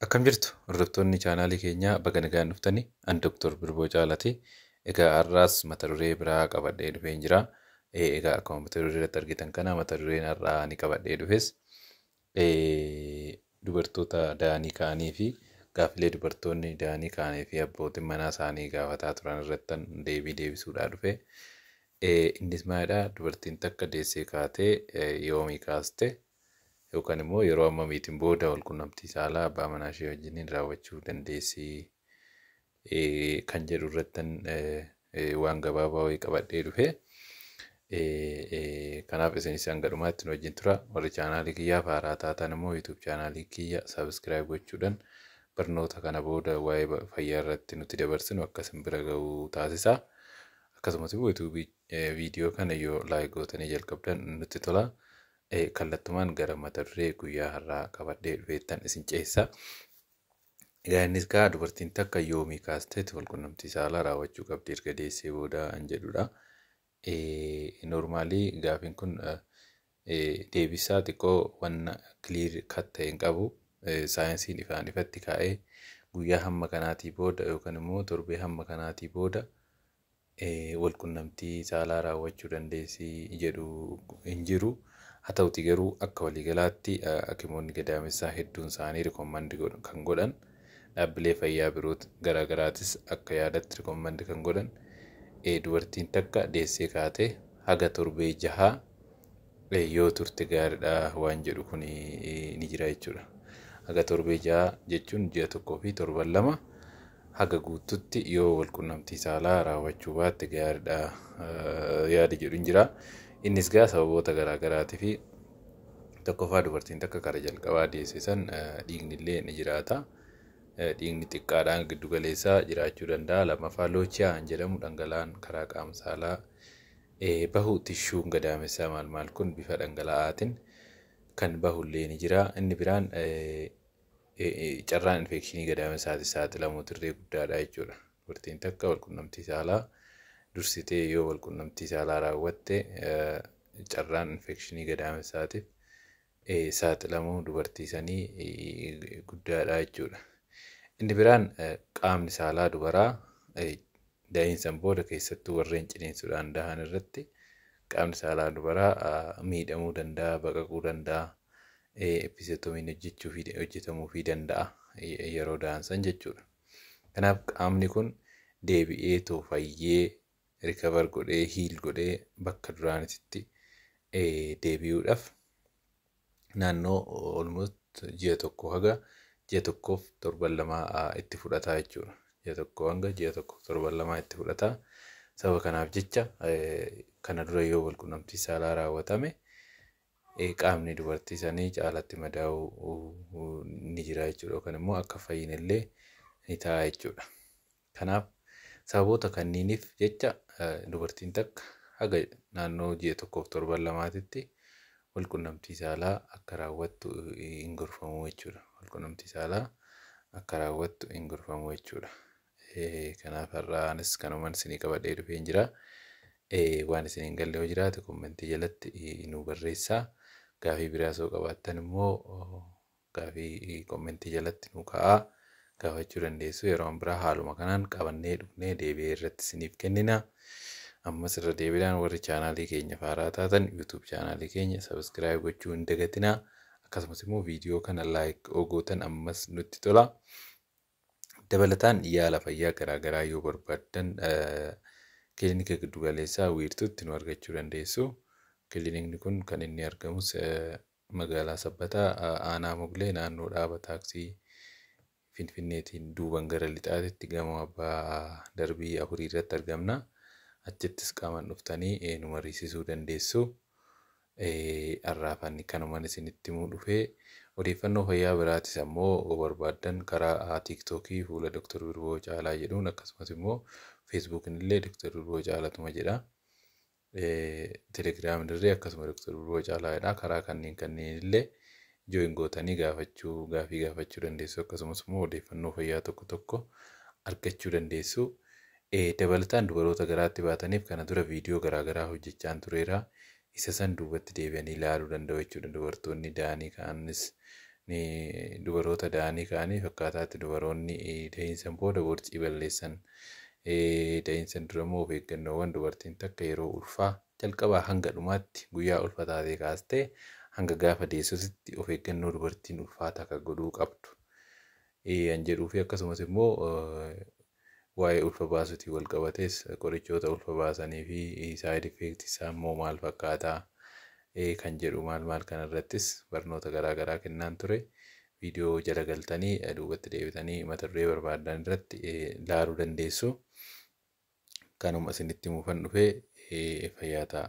Akkam jirtu hordoftoonni chaanaalii keenyaa baga nagaan dhuftanii an Dr. Birboo Caalaati. Egaa har'aas mata duree biraa qabadhee dhufeen jira. Eh, Egaa akkuma mata duree irratti argitan kana mata dureen har'aa ani qabadhee dhufes dubartoota da'anii ka'anii fi gaaffilee dubartoonni da'anii ka'anii fi abbootiin manaa isaanii gaafataa turan irratti deebii deebisuudhaa dhufe. Innis maalidha dubartiin takka deessee kaatee yoomii kaaste yookaan immoo yeroo ammamiitiin booda walqunnamtii saalaa abbaa manaa ishee wajjiniin raawwachuu dandeessi kan jedhu irrattan waan gabaabaa wayii qabadhee dhufe. Kanaaf isinis hanga dhumaatti nu wajjin tura. Warri chaanaalii kiyyaaf haaraa taatan immoo YouTube chaanaalii kiyya subscribe gochuudhaan barnoota kana booda waa'ee ba- fayyaa irratti nuti dabarsinu akka isin bira ga'u taasisa. Akkasumas immoo YouTube viidiyoo kana yoo like gootanii jalqabdan nutti tola. Eh, Kallattumaan gara mata duree guyyaa har'aa qabadhee dhufeettan isin ceessa. Egaa innis kaa dubartiin takka yoomii kaasteeti walqunnamtii saalaa raawwachuu qabdi erga deessee booda an jedhudha. Noormaalii gaafiin kun deebisaa xiqqoo wanna kiliir kat ta'e hin qabu. Saayinsiin ifaan ifatti kaa'ee guyyaa hamma kanaatii booda yookaan immoo torbee hamma kanaatii booda walqunnamtii saalaa raawwachuu dandeessi jedhu hin jiru. Haa ta'uutii garuu akka waliigalaatti hakimoonni gadaamessaa hedduun isaanii recommend godhu kan godhan dhaabbilee fayyaa biroo garaa garaatis akka yaadatti recommend kan godhan dubartiin takka deessee kaatee haga torbee jahaa yoo turte gaariidha waan jedhu kun ni jira jechuudha. Haga torbee ja'a jechuun ji'a tokkoo fi torban lama haga guututti yoo walqunnamtii saalaa raawwachuu baatte gaariidha yaada jedhu hin jira. Innis gaa sababoota garaa garaatii fi tokkoffaa dubartiin takka kara jalqabaa deesse san dhiigni illee ni jiraata. Dhiigni xiqqaadhaan giddu galeessaa jiraachuu danda'a. Lammaffaa loochiyaa jedhamu dhangala'aan karaa qaama saalaa bahu tishuun gadaamessaa maal maal kun bifa dhangala'aatin kan bahu illee ni jira. Inni biraan carraan infeekshinii gadaamessaati saaxilamuu dirree guddaadha jechuudha. Dubartiin takka walqunnamtii saalaa dursitee yoo walqunnamtii saalaa raawwatte carraan infeekshinii gadaamessaatiif saaxilamuu dubartii sanii guddaadha jechuudha. Inni biraan qaamni saalaa dubaraa da'iinsan booda keessattuu warreen ciniinsuudhaan dahan irratti qaamni saalaa dubaraa miidhamuu danda'a, baqaquu danda'a, episiotomiin hojjechuu fi hojjetamuu fi danda'a yeroo dahansan jechuudha. Kanaaf qaamni kun deebi'eetoo fayyee recover godhee heal godhee bakka duraanititti deebi'uudhaaf naannoo almost ji'a tokko haga ji'a tokkoof torban lamaa itti fudhataa jechuudha. Ji'a tokko hanga ji'a tokkoof torban lamaa itti fudhataa. Sababa kanaaf jecha kana dura yoo walqunnamtii saalaa raawwatame qaamni dubartii sanii caalatti madaa'uu ni jira jechuudha. Yookaan immoo akka fayyinellee ni ta'a jechuudha. Kanaaf sababoota kanniinif jecha dubartiin takka haga naannoo ji'a tokkoof torban lamaatitti walqunnamtii saalaa akka raawwattu hin gorfamu jechuudha. Walqunnamtii saalaa akka raawwattu hin gorfamu jechuudha. Kanaaf har'aa anis kanuman isinii qabadhee dhufeen jira. Waan isin hin galle yoo jiraate kommentii jalatti nuu barreessaa. Gaafii biraas yoo qabaattan immoo Gaafii commentii jalatti nuu kaa'aa gaafachuu dandeessu yeroon biraa haaluma kanaan qabannee dhufnee deebi'ee irratti isiniif kennina. Ammas irra deebiidhaan warri chaanaalii keenya faaraa taatan YouTube chaanaalii keenya subscribe gochuu hin dagatina. Akkasumas immoo viidiyoo kana like oo gootan ammas nutti tola. Dabalataan yaala fayyaa garaa garaa yoo barbaaddan kilinika giddu galeessaa wiirtuutti nu argachuu dandeessu. Kilinikni kun kan inni argamus Magaalaa Sabbataa Aanaa Moglee naannoo dhaaba taaksii Finfinneetiin duuban gara lixaatitti gamoo abbaa darbii afurii irratti argamna. Achittis qaaman dhuftanii nu mariisisuu dandeessu. Har'aaf ani kanuman isinitti himuu dhufe. Odeeffannoo fayyaa biraatis ammoo yoo barbaaddan karaa tiiktookii fuula Dr. Birboo Caalaa jedhuun akkasumas immoo feesbuukin illee Dr. Birboo Caalatuma jedha. Telegram dirree akkasuma Dr. Birruu Caalaa jedha. Karaa kanneen kanneen illee join gootanii gaafachuu gaafii gaafachuu dandeessu akkasumas immoo odeeffannoo fayyaa tokko tokko argachuu dandeessu. Eh, Dabalataan dubaroota garaatti baataniif kana dura viidiyoo garaagaraa hojjechaan tureera. Isa san duubatti deebi'anii ilaaluu danda'u jechuudha. Dubartoonni da'anii ka'anis ni dubaroota da'anii ka'aniif akkaataatti dubaroonni eh, da'iinsan booda borcii balleessan Ta'iinsan dura immoo of eeggannoowwan dubartiin takka yeroo ulfaa jalqabaa hanga dhumaatti guyyaa ulfa taatee kaastee hanga gaafa deessusitti of eeggannoo dubartiin ulfaa takka godhuu qabdu an jedhuu fi akkasumas immoo waa'ee ulfa baasuutiin wal qabatees qorichoota ulfa baasanii fi saayid effeekti isaa immoo maal fakkaataa kan jedhu maal maal kanarrattis barnoota garaa garaa kennaan ture. viidiyoo jala galtanii duubatti deebitanii mata duree barbaaddan irratti laaluu dandeessu. Kanuma isinitti himuufan dhufe fayyaa ta'a.